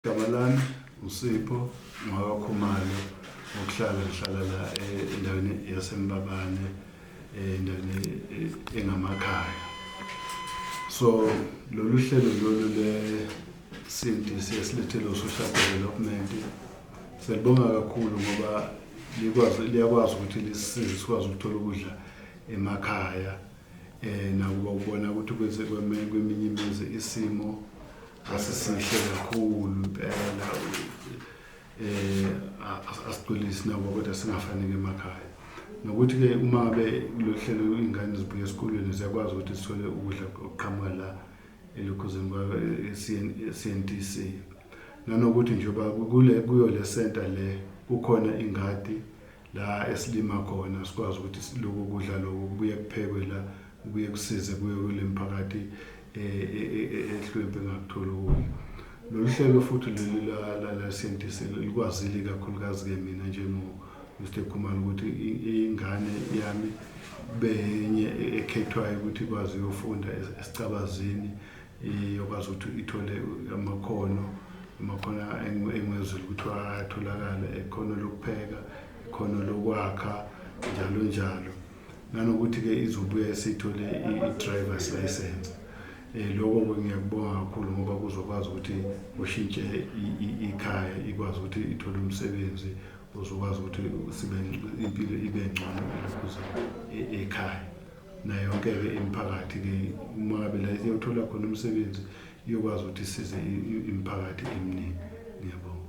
Igama lami uSipho Ngwakakhumalo ngokuhlala ngihlala la eh, endaweni yaseMbabane eh, endaweni eh, engamakhaya so lolu hlelo lolu lesinti siye silethele u-social development selibonga kakhulu ngoba likwazi liyakwazi ukuthi lisisize sikwazi ukuthola ukudla emakhaya um nakuba ubona ukuthi kweminye imizi isimo asisihle kakhulu impela eh asigculisi nabo kodwa singafanele emakhaya nokuthi ke uma ngabe lohlelo ingane zibuya esikolweni ziyakwazi ukuthi sithole ukudla okuqhamuka la elukhuzeni kwa CNTC nanokuthi njengoba kule kuyo le center le kukhona ingadi la esilima khona sikwazi ukuthi siloku kudla lokhu kubuye kuphekwe la kubuye kusize kuye kule mphakathi eh, eh, eh, ehlwempe ngakutholi ukudla lolu hlelo futhi leli la-scientist likwazile kakhulukazi-ke mina njengo-mr khumalo ukuthi ingane yami benye ekhethwayo ukuthi ikwazi uyofunda esicabazini iyokwazi ukuthi ithole amakhono amakhono engwezulu kuthiwa atholakale ekhono lokupheka ikhono lokwakha njalo njalo nanokuthi-ke izobuya isithole i-drivers license um loko-ke ngiyakubonga kakhulu ngoba kuzokwazi ukuthi ushintshe ikhaya ikwazi ukuthi ithole umsebenzi uzokwazi ukuthi impilo ibe ngcono elokhuza e-, ekhaya nayo yonke-ke imiphakathi ke uma ngabe la iyothola khona umsebenzi iyokwazi ukuthi isize imiphakathi eminingi ngiyabonga